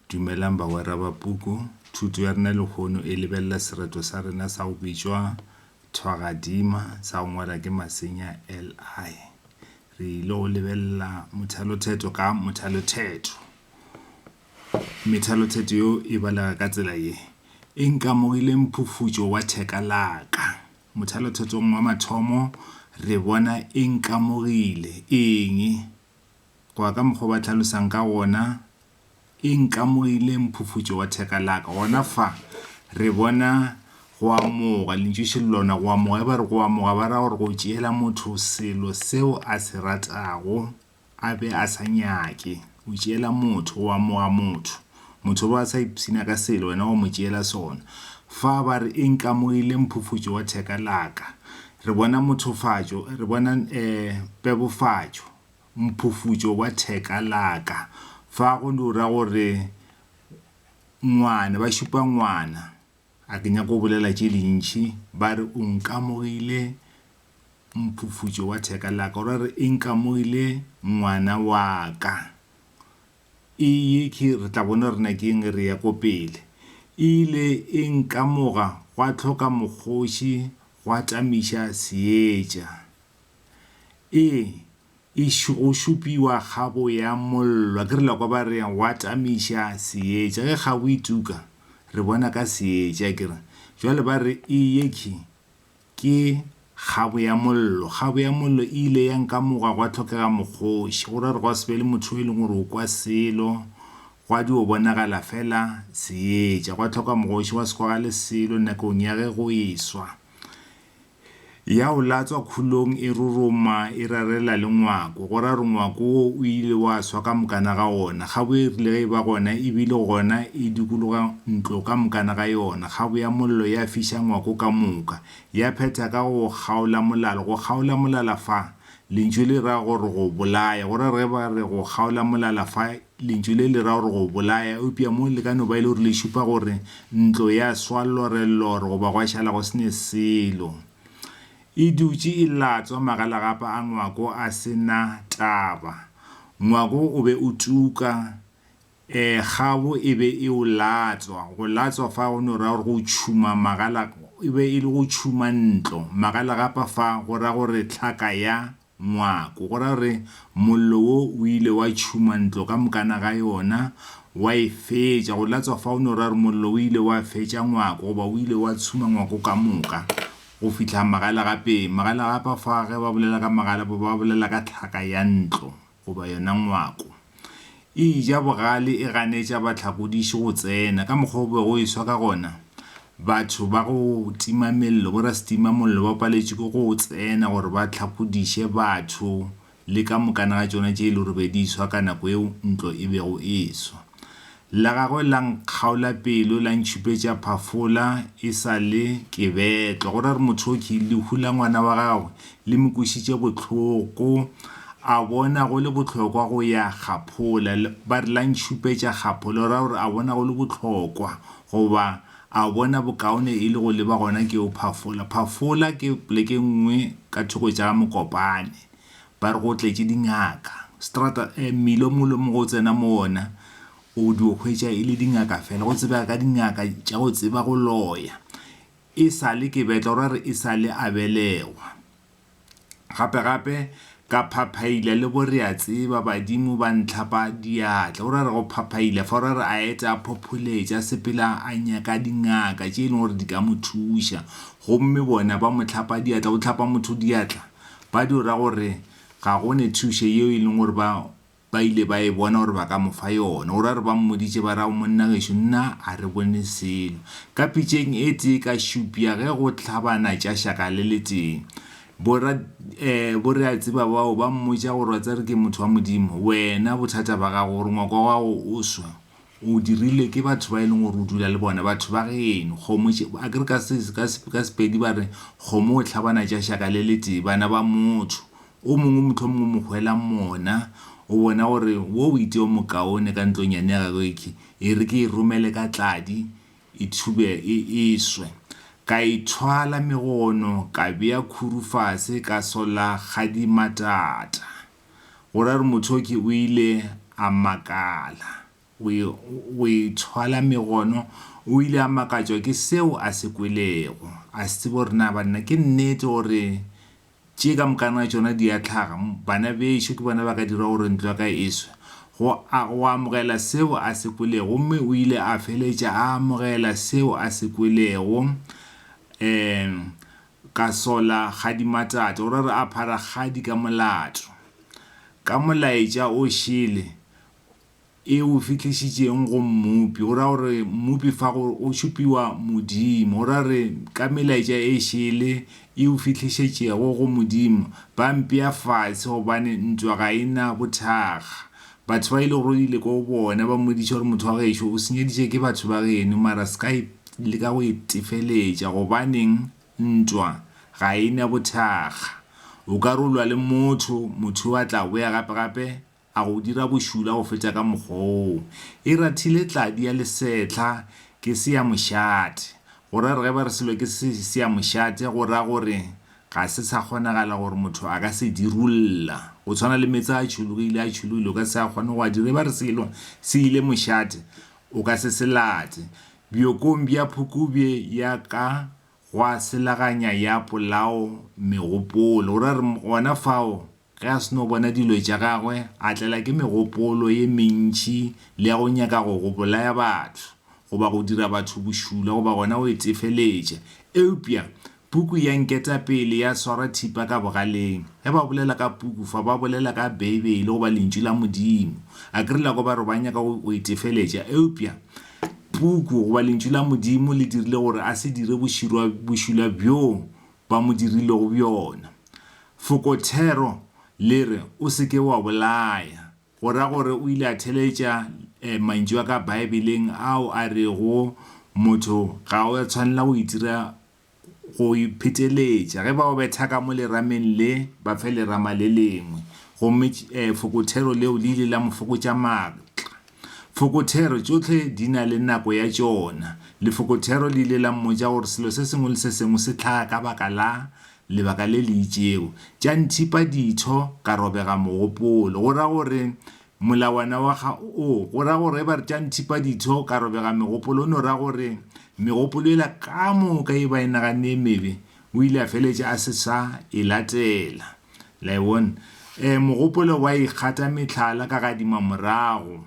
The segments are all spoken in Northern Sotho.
Dumelang bagwera ba puku. Thuto ya rena lehono e lebelela sereto sa rena sa go bitšwa thwagadima sa go ngwala ke Masenya LI. Re ile go lebelela mothalothetho ka mothalothetho. Methalothetho yeo e balega ka tsela ye, E nkamogile mphufutšo wa theka la ka. Mothalothetong wa mathomo re bona e nkamogile eng? Go ya ka mokgwa o ba hlalosang ka gona, e nkamogile mphufutšo wa theka la ka. Gona fa re bona go amoga, lentšwešo le lona go amoga. Ge ba re go amoga, ba ra gore go tšeela motho selo seo a se ratago a be a sa nyake. O tšeela motho, o amoga motho. Motho o be a sa ipshina ka selo, wena wa mo tšeela sona. Fa ba re e nkamogile mphufutšo wa theka la ka, re bona mothofatšo, re bona pebofatšo. mphufutšo wa theka laka. Fa go ra gore ngwana, ba šupa ngwana. A ke nyake go bolela tše dintši, ba re o nkamogile mphufutšo wa theka laka. O ra re e nkamogile ngwana wa ka. E ye ke re tla bona gore na ke eng, re ya ko pele. E ile e nkamoga gwa tlhoka mokgoši, gwa tamiša seetša. Ee, e go šupiwa kgabo ya mollo. A ke re la kwa ba re wa tamiša seetša. Ge kgabo e tuka, re bona ka seetša. A ke re jwale ba re e yekhi ke kgabo ya mollo. Kgabo ya mollo e ile ya nkamoga gwa tlhokega mokgoši. Go ra gore gwa se be le motho yo e leng gore o kwa selo, gwa dio bonagala fela seetša. Gwa tlhoka mokgoši, gwa se kwagale selo nakong ya ge go e swa. Ya o latswa khulong e roroma e rarela le ngwako, go ra gore ngwako wo o ile wa swa ka mokana ga ona. Kgabo e rile ge e ba gona e bile gona e dikologa ntlo ka mokana ga yona, kgabo ya mollo ya fiša ngwako ka moka. Ya phetha ka go o kgaola molala. Go kgaola molala fa, lentšu le ra gore go bolaya, go ra gore ge ba re go kgaola molala fa Lentšu le le ra gore go bolaya, eupša mo le ka no ba e le gore le šupa gore ntlo ya swa llorellor goba gwa šala go se ne selo. E dutše e latswa magalagapa a Ngwako a se na taba. Ngwako o be o tuka, ee, kgabo e be e o latswa. Go latswa fa go no ra gore go tšhuma magala, e be e le go tšhuma ntlo. Magalagapa fa go ra gore tlhaka ya Ngwako, go ra gore mollo wo o ile wa tšhuma ntlo ka mokana ga yona, wa e fetša. Go latswa fao no ra gore mollo o ile wa fetša ngwako, goba o ile wa tshuma ngwako ka moka, go fihla magalagapeng. Magalagapa fa ge ba bolela ka magalapa ba bolela ka tlhaka ya ntlo goba yona ngwako. E eja bogale e ganetša bahlakodiši go tsena. Ka mokgwa o bego o e swa ka gona, batho ba go tima mello, borasetima mollo, ba paletšwe ke go tsena gore ba hlakodiše batho le ka mokana ga tšona tše e lego gore be di e swa ka nako yeo ntlo e bego e swa. La gagwe la nkgaola pelo, la ntšhupetša phafola e sa le ke betlwa. Go ra re Mothoki, lehu la ngwana wa gagwe le mo kwešitše bohloko, a bona go le bohlokwa go ya kgaphola. Ba re la ntšhupetša kgaphola, go ra gore a bona go le bohlokwa goba a bona bokaone e le go leba gona keo phafola. Phafola ke poleke nngwe ka thoko tša Mokopane. ba re go tletše dingaka strata eh, mmila o mongwe mo go tsena mo ona o di o hwetša e le dingaka fela go tsebega ka dingaka tša go tseba go loya e sale ke betla gore re e sale a belegwa gape gape ka phaphaila le bo re a tseba badimo ba ntlhapa diatla gore re go phaphaila fa gore a eta a phopholetša sepela a nyaka dingaka tše e leng gore di ka mo thuša gomme bona ba mo tlhapa diatla o tlhapa motho diatla Ba dio ra gore ga go ne thušo yeo e leng gore ba ba ile ba e bona gore ba ka mo fa yona. O ra gore ba mmoditše ba ra go monna gešo nna a re bone selo. Ka pitšeng e tee ka šupša ge go hlabana tša šaka le le tee. Bo ra eh bo re a tseba bao ba mmotša gore wa tseba re ke motho wa Modimo. Wena bothata ba gago gore ngwako wa gago o swa. O dirilwe ke batho ba e leng gore o dula le bona, batho ba geno. Kgomo tše, a ke re ka se, ka se, ka Sepedi ba re kgomo o hlabana tša šaka le le tee, bana ba motho. O mongwe mohlomongwe o mo hwela mona, o bona gore wo o itee o mokaone ka ntlonyane ya gagwe e khe, e re ke e romele ka tladi, e thube e, e swe. Ka e thwala megono, ka bea khuru fase, ka solla kgadimatata. go ra re Mothoki o ile a makala go e, go e thwala megono. O ile a makatšwa ke seo a se kwelego. A se tsebe gore na banna ke nnete gore tše ka mokana tšona di a tlhaga, bana bešo ke bona ba ka dirago gore ntlo ya ka e swe. Go a, go amogela seo a se kwelego. Gomme o ile a feletša a amogela seo a se kwelego. Um. Ka sola Kgadi Matata. O ra re aphara Kgadi ka molato. Ka molaetša o šele e o fihlišitšeng go Mmopi. O ra gore Mmopi fa go o šupiwa Modimo. O ra re ka melaetša e šele e o fihlišetšego go Modimo, ba mpea fase gobane ntwa ga e na bothakga. Batho ba ile go ile ko bona ba mmodiša gore motho wa gešo o senyeditše ke batho ba geno mara se ka e le ka go e tefeletša gobaneng ntwa ga e na bothakga o ka rolwa le motho motho o a tla boya gape gape a go dira bošula go feta ka mokgwa oo e rathile tladi ya lesetlha ke se ya mošate go ra re ge ba re selo ke se ya mošate go ra gore Ga se sa kgonagala gore motho a ka se dirulla. Go tshwana le meetse a tšhologile, a tšhologile, o ka se a kgone go a dira. E ba re selo se ile mošate, o ka se se late. Bjokong bja phukubje ya ka gwa selaganya ya polao megopolo. O ra re gona fao, Ge a seno bona dilo tša gagwe, a tlela ke megopolo ye mentši le ya go nyaka go go bolaya batho, goba go dira batho bošula goba gona go itefeletša. Eupša Puku ya Nketapele ya swara thipa ka bogaleng. Ge ba bolela ka Puku fa, ba bolela ka Beibele goba Lentšu la Modimo. Akere la kwa ba re ba nyaka go go itefeletša, eupša Puku goba Lentšu la Modimo le dirile gore a se dire boširwa bošula bjoo ba mo dirilego bjona. Fokothero le re, O se ke wa bolaya, go ra gore o ile a theletša mantšu a ka Baebeleng ao a rego, Motho ga o a tshwanela go itira go ipheteletša. Ge ba o betha ka mo lerameng le, ba fe lerama le lengwe. Gomme fokothero leo le ile la mo fokotša maatla. Fokothero tšohle di na le nako ya tšona. Lefokothero le ile la mmotša gore selo se sengwe le se sengwe se hlaga ka baka la lebaka le le itšego. Tša nthipa ditho ka robega mogopolo. Go ra gore molawana wa ga o go ra gore ge ba re tša nthipa ditho ka robega megopolo o no ra gore megopolo yela ka moka ye ba e naganne e mebe O ile a feletša a se sa e latela. Le a e bona? E, mogopolo wa ikgata mehlala ka gadima morago.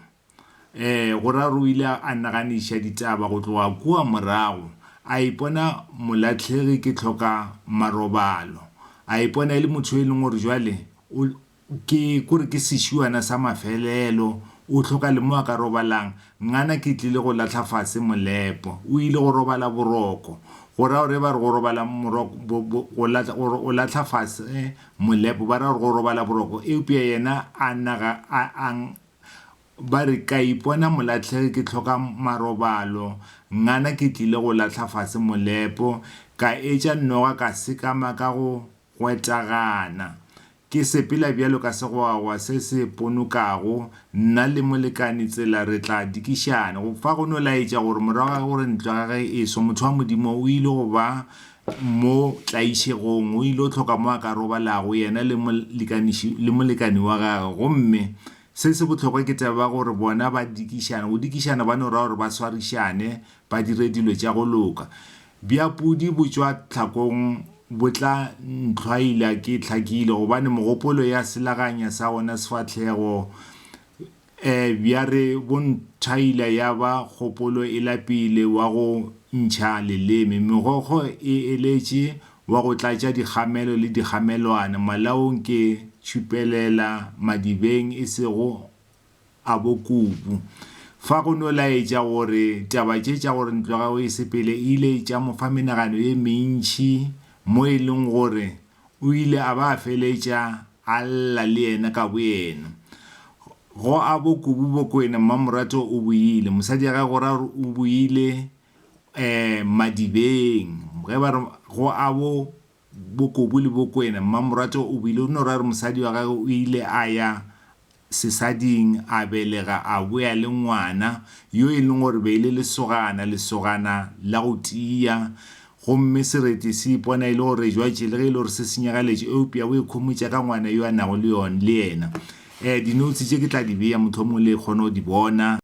E, go ra gore o ile a naganiša ditaba go tloga kua morago, a ipona molahlegi ke hloka marobalo, a ipona e le motho yo e leng gore jwale o, Ke kore ke sešuana sa mafelelo, o hloka le mo a ka robalang. Ngana ke tlile go lahla fase molepo. O ile go robala boroko. Go ra gore ba re go robala moroko, bo, bo, go lahla, go, go lahla fase molepo, ba ra gore go robala boroko. Eupša yena a nna ga a, a, ba re, ka ipona molahlegi ke hloka marobalo. Ngana ke tlile go lahla fase molepo. Ka etša noga ka sekama ka go Gwetagana. Ke sepela bjalo ka segwagwa se se ponokago, nna le molekane tsela re tla dikišana. Go fa go no laetša gore morago ga gore ntlo ya gagwe e swe, motho wa Modimo o ile go ba mo tlaišegong, o il'o hloka mo a ka robalago, yena le molekaniši, le molekane wa gagwe. Gomme se se bohlokwa ke taba ya gore bona ba dikišana. Go dikišana ba no raya gore ba swarišane, ba dire dilo tša go loka. Bja pudi bo tšwa tlhakong bo tla ntlhwaila ke hlakile gobane mogopolo ya selaganya sa gona sefahlego e bja re bo nthwaila ya ba kgopolo e lapile wa go ntšha leleme. Megokgo e eletše wa go tlatša dikgamelo le dikgamelwana malaong ke tšhupelela madibeng e sego a bo Kubu. Fa go no laetša gore taba tše tša gore ntlo ya gagwe e sepele e ile tša mo fa menagano ye mentši mo e leng gore o ile a ba a feletša a lla le yena ka boyena. Go a bo Kubu Bokwena Mmamorato o boile, mosadi ya gagwe go ra gore o boile Madibeng ge ba re go a bo Bokobu le Bokwena. Mmamoratwa o buile, o no ra re mosadi wa gagwe o ile a ya sesading a belega a boya le ngwana yo e leng gore be e le lesogana, lesogana la go tiya, gomme sereti se ipona e le gore jwatše le ge e le gore se senyegaletše eupša o ikhomotša ka ngwana yo a nago le yena. Dinotsi tše ke tla di bea mohlomongwe le kgone go di bona.